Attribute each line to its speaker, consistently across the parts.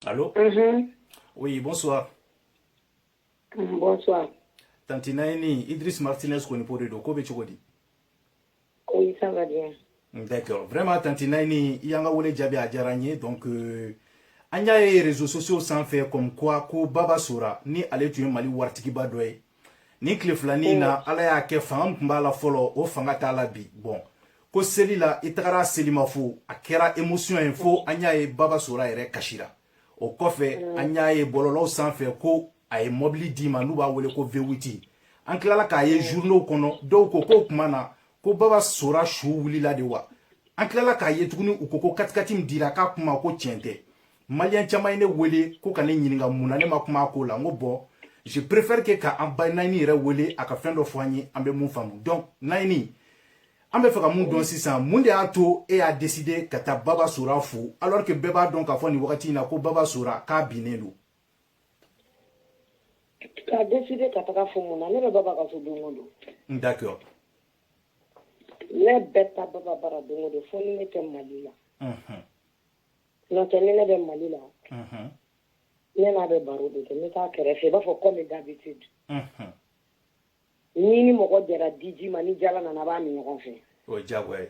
Speaker 1: Allô
Speaker 2: mhm. Oui,
Speaker 1: bonsoir. Mm,
Speaker 2: bonsoir. Tanti Naini,
Speaker 1: Idriss Martinez Konipo de don, ko bɛ cogo di?
Speaker 2: Oui, ça va bien. Mm, d'accord.
Speaker 1: Vraiment, Tanti Naini, i y'an ka wele jaabi a diyara an ye donc euh, an y'a ye réseaux sociaux sanfɛ comme quoi ko Baba Sora ni ale tun ye Mali waritigiba dɔ ye nin tile filani in na ala y'a kɛ fanga
Speaker 2: min tun
Speaker 1: b'a la fɔlɔ o fanga t'a la bi bon ko seli la i tagara selimafo a kɛra émotion ye fo an y'a ye baba sora yɛrɛ kasira o kɔfɛ mm. an y'a ye bɔlɔlɔw sanfɛ ko a ye mɔbili d'i ma n'u b'a wele ko V8 an tilala k'a ye journaux mm. kɔnɔ dɔw ko k'o tuma na ko baba sora su wulila de wa an tilala k'a ye tuguni u ko ko katikati min dira k'a kuma ko tiɲɛ tɛ maliyɛn caman ye ne wele ko ka ne ɲininka mun na ne ma kuma a ko la n ko bon je préfère que ka an ba naini yɛrɛ wele a ka fɛn dɔ fɔ an ye an bɛ mun faamu donc naini an bɛ fɛ ka mun dɔn sisan mun de y'a to e y'a décidé ka taa baba sora fo alors que bɛɛ b'a dɔn k'a fɔ nin wagati in na ko baba sora k'a binnen
Speaker 2: don k'a décider ka taga fo mun na ne bɛ baba ka so don o don d'accord
Speaker 1: ne
Speaker 2: bɛ taa baba bara don o don fo ni ne tɛ mali la N'o tɛ ni ne bɛ Mali la. Unhun. Ne n'a bɛ baro de kɛ, n bɛ taa a kɛrɛfɛ i b'a fɔ comme d'habitude. Unhun. N'i ni mɔgɔ jɛra diji ma, ni jala nana a b'a min ɲɔgɔn fɛ. O ye diyagoya ye.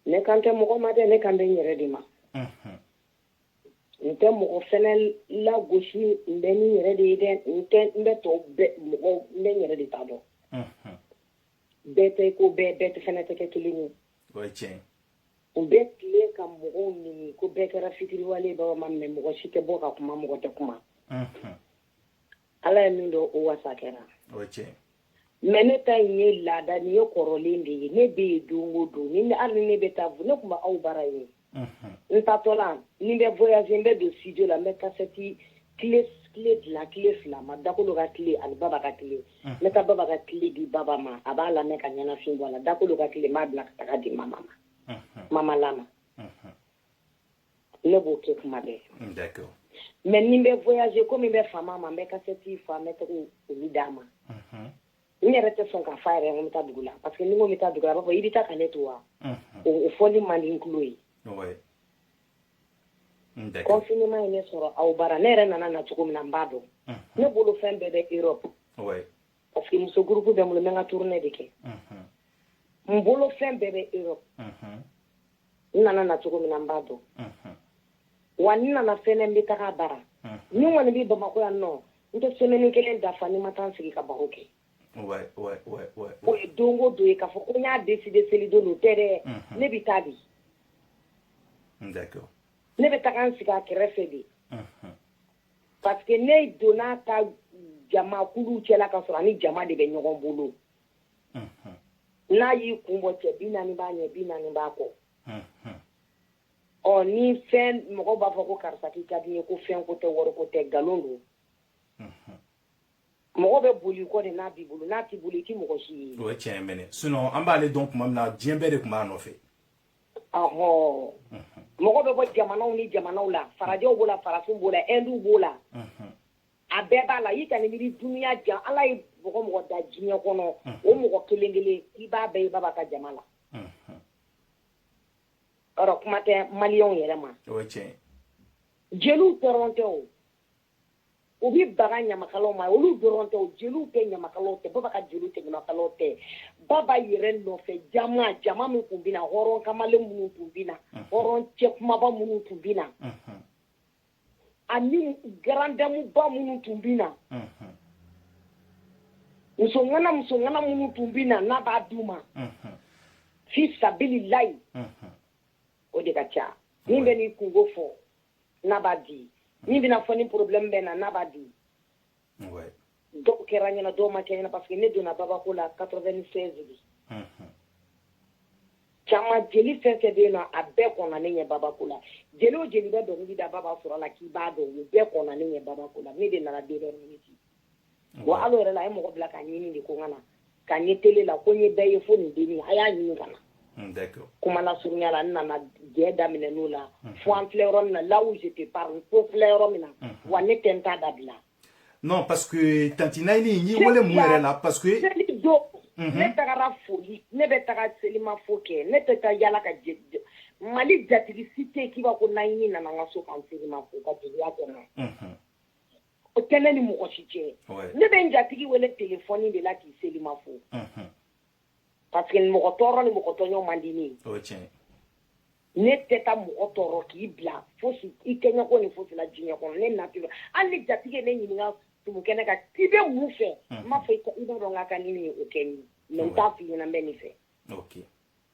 Speaker 1: Ne kan tɛ
Speaker 2: mɔgɔ ma dɛ, ne kan bɛ n yɛrɛ de ma. Unhun. N tɛ mɔgɔ fana lagosi, n bɛ ni n yɛrɛ de ye dɛ, n tɛ n bɛ tɔw bɛɛ mɔgɔw n bɛ n yɛrɛ de ta dɔn. Unhun. Bɛɛ tɛ i ko bɛɛ, bɛɛ fana tɛ kɛ kelen ye. o
Speaker 1: ye tiɲɛ ye u bɛ
Speaker 2: tile ka mɔgɔw nɛni ko bɛɛ kɛra fitiriwale baba ma mɛ mɔgɔ si tɛ bɔ ka kuma mɔgɔ tɛ kuma ala ye min dɔn o wasa
Speaker 1: kɛra mɛ ne
Speaker 2: ta in ye laada nin ye kɔrɔlen de ye ne bɛ yen don o don ni hali ne bɛ taa ne tun bɛ aw bara yen n taatɔ la ni n bɛ voyage n bɛ don studio la n bɛ kasɛti kile dila kile fila ma dakolo ka kile ani baba ka kile n bɛ taa baba ka kile di baba ma a b'a lamɛn ka ɲɛnafin bɔ a la dakolo ka kile n b'a bila ka taga di mama ma mama la ma ne b'o kɛ kuma bɛɛ
Speaker 1: mɛ ni n bɛ
Speaker 2: voyage komi n bɛ fama a ma n bɛ kasɛti fa n bɛ taga olu d'a ma n yɛrɛ tɛ sɔn k'a fɔ a yɛrɛ ye ko n bɛ taa dugu la parce que ni n ko n bɛ taa dugu la a b'a fɔ i bɛ taa ka ne to wa o fɔli man di n tulo ye confinement ye ne sɔrɔ aw bara ne yɛrɛ nana na cogo min na n b'a dɔn ne bolo fɛn bɛɛ bɛ Europe parce que muso groupe bɛ n bolo n bɛ n ka tournée de kɛ n bolo fɛn bɛɛ bɛ Europe n nana na cogo min na n b'a dɔn wa n nana fɛnɛ n bɛ taga a bara ni n kɔni bɛ bamakɔ yan nɔ n tɛ semaine kelen dafa ni n ma taa n sigi ka baro kɛ o ye don o don ye k'a fɔ ko n y'a décider selidon don o tɛ dɛ ne bɛ taa bi ne bɛ taga n sigi a kɛrɛfɛ de parce que ne donna a ta jamakulu cɛla ka sɔrɔ a ni jama de bɛ ɲɔgɔn bolo n'a y'i kun bɔ cɛ bi naani b'a ɲɛ bi naani b'a kɔ ɔ ni fɛn mɔgɔ b'a fɔ ko karisa k'i ka di n ye ko fɛn ko tɛ wari ko tɛ nkalon don mɔgɔ bɛ bol'i kɔ de n'a b'i bolo n'a t'i bolo i tɛ mɔgɔ si ye o ye tiɲɛ ye mɛnɛ
Speaker 1: sinon an b'ale dɔn tuma min na diɲɛ bɛɛ de tun b'a nɔfɛ ɔhɔ
Speaker 2: mɔgɔ bɛ bɔ jamanaw ni jamanaw la farajɛw b'o la farafinw b'o la ɛnduw b'o la a bɛɛ b'a la i ka nin miiri dunya jan ala ye mɔgɔ o mɔgɔ da diɲɛ kɔnɔ o mɔgɔ kelen kelen i b'a bɛɛ ye baba ka jama la ɔ kuma tɛ maliyɛnw yɛrɛ ma
Speaker 1: jeliw
Speaker 2: dɔrɔn tɛ o u bɛ baga ɲamakalaw ma olu dɔrɔn tɛ o jeliw tɛ ɲamakalaw tɛ baba ka jeliw tɛ ɲamakalaw tɛ baba yɛrɛ nɔfɛ jama jama min tun bɛ na hɔrɔn kamalen minnu tun bɛ na hɔrɔn cɛ kunbaba minnu tun bɛ na ani garandamuba minnu tun bɛ na musoŋana musoŋana minnu tun bɛ na n'a b'a d'u ma fi sabililayi o de ka ca min bɛ n'i kunko fɔ n'a b'a di min bɛ n'a fɔ ni problème bɛ na n'a b'a di dɔw kɛra n ɲɛna dɔw ma kɛ n ɲɛna parce que ne donna babako la 96 de caman jeli fɛn o fɛn bɛ yen nɔ a bɛɛ kɔnna ne ɲɛ babako la jeli o jeli bɛ dɔnkili da baba sora la k'i b'a dɔn u bɛɛ kɔnna ne ɲɛ babako la ne de nana dernière minute wa hal'o yɛrɛ la a ye mɔgɔ bila ka n ɲini de ko n ka na ka n ye tele la ko n ye bɛɛ ye fo nin dennin a y'a ɲini ka na hmm, kuma lasurunya la n nana jɛ daminɛ n'o la hmm. fo an filɛ yɔrɔ min na là où je te parle fo filɛ yɔrɔ min na hmm. wa ne tɛ n ta dabila non parce
Speaker 1: que tanti nayini n y'i wele mun yɛrɛ la parce que seli don
Speaker 2: mhm. ne tagara foli ne bɛ taga selimafo kɛ ne tɛ taa yala ka mali jatigi si tɛ k'i b'a ko nayini nana n ka so ka n selimafo ka jeliya kɔnɔ mhm. o tɛ ne ni mɔgɔ si cɛ ne bɛ n jatigi wele téléphone de la k'i selimafo parce que mɔgɔ tɔɔrɔ ni mɔgɔ tɔɲɔ man di n ye ne tɛ taa mɔgɔ tɔɔrɔ k'i bila fo i kɛɲɔgɔn ni fosi la diɲɛ kɔnɔ ne nature hali jatigi ye ne ɲininka tumukɛ ne ka i bɛ mun fɛ n b'a fɔ i dɔn ka ka ni ye o kɛ n ye n t'a fɔ i ɲɛna n bɛ nin fɛ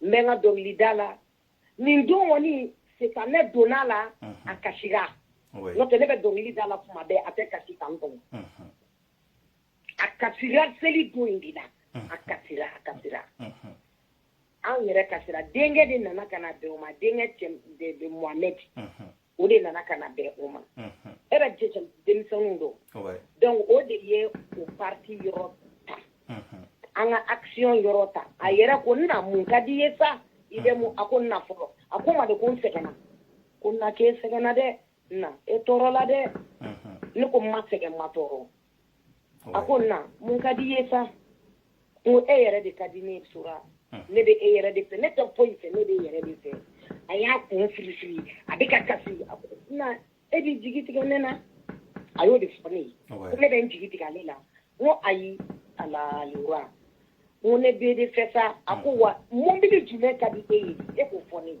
Speaker 2: n bɛ n ka dɔnkilida la nin don kɔni sitanɛ donna a la a kasira n'o tɛ ne bɛ dɔnkili da la kuma bɛɛ a tɛ kasi kan kɔnɔ a kasira seli don in de la a kasira a kasira anw yɛrɛ kasira denkɛ de nana ka na bɛn o ma denkɛ de Mohamed o de nana ka na bɛn o ma e b'a ye denmisɛnninw don donc o de ye o partie yɔrɔ ta an ka action yɔrɔ ta a yɛrɛ ko na mun ka di i ye sa i bɛ mun a ko na fɔlɔ a ko n ma de ko n sɛgɛnna ko na k'e sɛgɛnna dɛ na e tɔɔrɔla dɛ ne ko n ma sɛgɛn n ma tɔɔrɔ a ko na mun ka di i ye sa n ko e yɛrɛ de ka di n ye Sora ne bɛ e yɛrɛ de fɛ ne tɛ foyi fɛ ne bɛ e yɛrɛ de fɛ a y'a kun firi firi a bɛ ka kasi a ko na e b'i jigi tigɛ ne na a y'o de fɔ ne ye ko ne bɛ n jigi tigɛ ale la n ko ayi alaliwa n ko ne b'e de fɛ sa a ko wa mobili jumɛn ka di e ye e k'o fɔ ne ye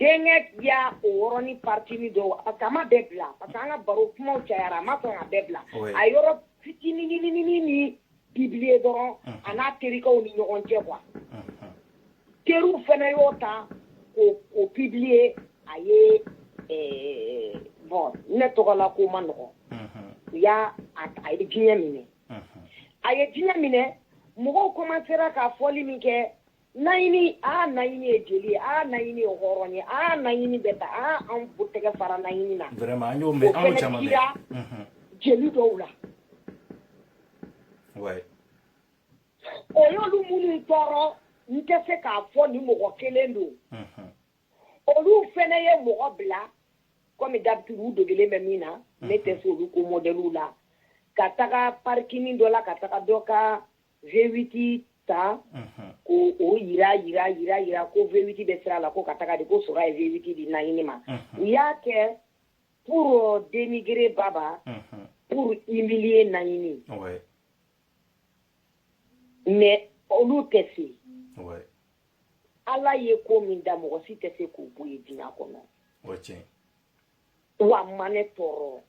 Speaker 2: Denkɛ y'a o yɔrɔnin partie min don parce que a ma bɛɛ bila parce que an ka baro kumaw cayara a ma sɔn k'a bɛɛ bila a yɔrɔ fitinininin nin publier dɔrɔn a n'a terikɛw ni ɲɔgɔn cɛ quoi teriw fana y'o ta k'o publier a ye bon ne tɔgɔ la ko ma nɔgɔya a ye diɲɛ minɛ a ye diɲɛ minɛ mɔgɔw commencera ka fɔli min kɛ naɲini aa naɲini ye jeli ye aa naɲini ye hɔrɔn ye aa naɲini bɛ ta aa an b'u tɛgɛ fara naɲini na vraiment an y'o mɛn an y'o
Speaker 1: caman mɛn mhm. jeli dɔw la
Speaker 2: o y'olu minnu tɔɔrɔ n tɛ se k'a fɔ ni mɔgɔ kelen don mhm. olu fɛnɛ ye mɔgɔ bila comme d'habitude u degelen bɛ min na ne tɛ se olu ko mɔdɛliw la ka taga parking dɔ la ka taga dɔ ka V8 ta k'o jira jira jira jira ko V8 bɛ sira la ko ka taga de ko Sora ye V8 di naɲini ma u y'a kɛ pour dénigrer baba pour humilier naɲini mais olu tɛ se ala ye ko min da mɔgɔ si tɛ se k'o bɔ yen diɲɛ kɔnɔ wa a ma ne tɔɔrɔ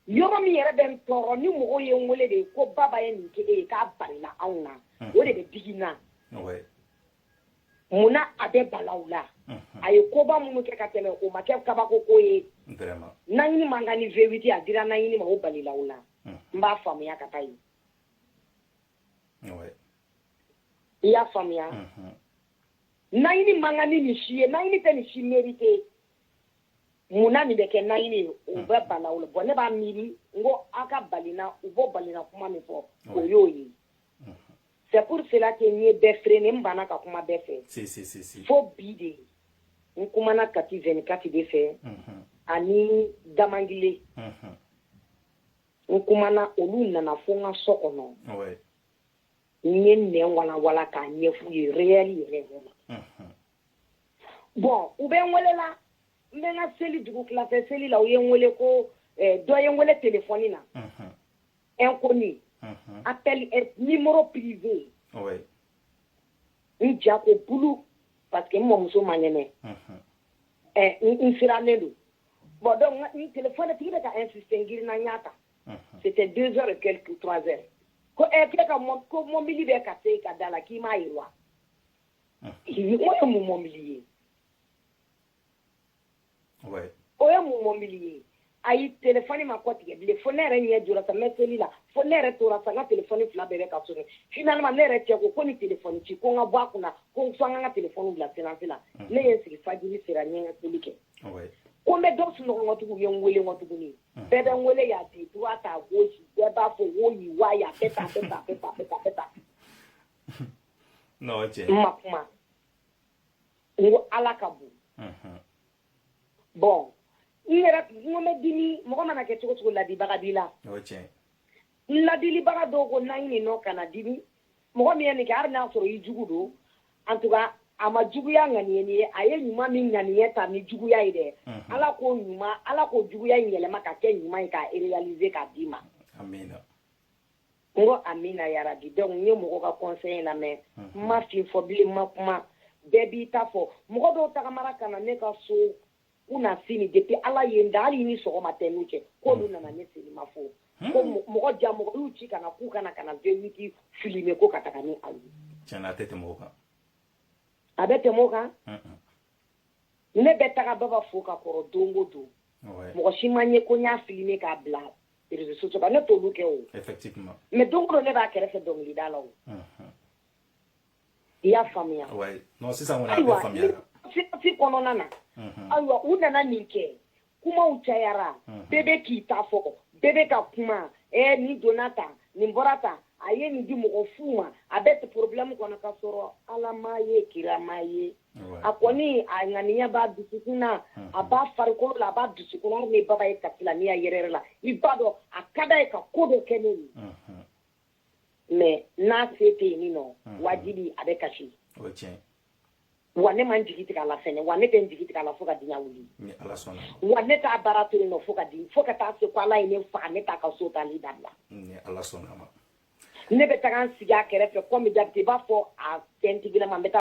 Speaker 2: yɔrɔ min yɛrɛ bɛ n tɔɔrɔ ni mɔgɔw ye n wele de ko baba ye nin kɛ e ye k'a balila anw na o de bɛ digi n na mun na a bɛ bala u la a ye koba minnu kɛ ka tɛmɛ o ma kɛ kabako ko ye naɲini man kan ni V8 a dira naɲini ma o balila u la n b'a faamuya ka taa yen i y'a faamuya naɲini man kan ni nin si ye naɲini tɛ nin si mériter munna nin bɛ kɛ naɲini ye o bɛ bala u la bon ne b'a miiri n ko a ka balina u bɔ balina kuma min fɔ o y'o ye c'est pour cela que n ye bɛɛ freiner n banna ka kuma bɛɛ fɛ fo bi de n kumana kati vingt-quatre de fɛ ani damangile n kumana olu nana fo n ka so kɔnɔ n ye nɛ walanwalan k'a ɲɛf'u ye réel yɛrɛ yɛrɛ la bon u bɛ n wele la n bɛ n ka seli dugutila fɛ seli la u ye n wele ko eh, dɔ ye n wele telefɔni na inconnu appel eh, numéro privé n ja ko bulu parce que n mɔmuso man kɛnɛ eh, n sirannen don bon donc n telefɔni tigi bɛ ka insister n girinna n y'a ta c'était deux heures et quelques trois heures ko ɛ eh, k'e ka ko mɔbili bɛ ka se ka da la k'i m'a ye wa ye mun mɔbili
Speaker 1: ye o ye mun
Speaker 2: mɔbili ye ayi telefɔni ma kɔ tigɛ bilen fo ne yɛrɛ ɲɛ jɔ ka mɛ seli la fo ne yɛrɛ tora ka telefɔni fila bɛ ka sonner finalement ne yɛrɛ cɛ ko ko ni telefɔni ci ko n ka bɔ a kunna ko n fo an ka telefɔni bila silence la ne ye sigi fajiri sera n ye seli kɛ ko n
Speaker 1: bɛ
Speaker 2: dɔ sunɔgɔ tigiw ye n weele ma tuguni bɛɛ bɛ n weele y'a di bɛɛ b'a fɔ wo
Speaker 1: n'o cɛ ma
Speaker 2: kuma n ko ala ka bon bon n yɛrɛ n bɛ dimi mɔgɔ mana kɛ cogo o cogo ladilibaga b'i la n ladilibaga dɔw ko naɲini non kana dimi mɔgɔ min ye nin kɛ hali n'a sɔrɔ i jugu don en tout cas a ma juguya ŋaniye nin ye a ye ɲuman min ŋaniye ta ni juguya ye dɛ ala k'o ɲuman ala k'o juguya in yɛlɛma ka kɛ ɲuman ye k'a réaliser k'a d'i ma n ko amina yarabi donc n ye mɔgɔ ka conseil lamɛn n ma fɛn fɔ bilen ma kuma bɛɛ b'i ta fɔ mɔgɔ dɔw tagamara ka na ne ka so u na fini depuis ala ye n da hali nin sɔgɔma tɛ n'u cɛ k'olu nana ne fini ma fo ko mɔgɔ ja mɔgɔ y'u ci ka na k'u ka na ka na v huit filmer ko ka taga n'a ye tiɲɛ na a tɛ tɛmɛ
Speaker 1: o kan
Speaker 2: a bɛ tɛmɛ o kan ne bɛ taga baba fo ka kɔrɔ don o don mɔgɔ si ma n ye ko n y'a filmer k'a bila sociaux ba ne t'olu kɛ o mais
Speaker 1: don o don ne
Speaker 2: b'a kɛrɛfɛ dɔnkilida la o i y'a faamuya
Speaker 1: ayiwa sirasi kɔnɔna
Speaker 2: na ayiwa u nana nin kɛ kumaw cayara bɛɛ bɛ k'i ta fɔ bɛɛ bɛ ka kuma ɛɛ nin donna tan nin bɔra tan a ye nin di mɔgɔ fu ma a bɛ problème kɔnɔ ka sɔrɔ ala ma ye kira ma ye a kɔni a ŋaniya b'a dusukun na a b'a farikolo la a b'a dusukun na hali ni baba ye kabila n'i y'a yɛrɛ yɛrɛ la i b'a dɔn a ka d'a ye ka ko dɔ kɛ ne ye mais n'a se tɛ yen nɔ wajibi a bɛ kasi wa ne ma n jigi tigɛ a la fɛnɛ wa ne tɛ n jigi tigɛ a la fo ka diɲɛ
Speaker 1: wuli wa ne t'a
Speaker 2: baara to yen nɔ fo ka di fo ka taa se ko ala ye ne faga ne t'a ka so taali dabila
Speaker 1: ne
Speaker 2: bɛ taga n sigi a kɛrɛfɛ komi jabiti i b'a fɔ a fɛntigilama n bɛ taa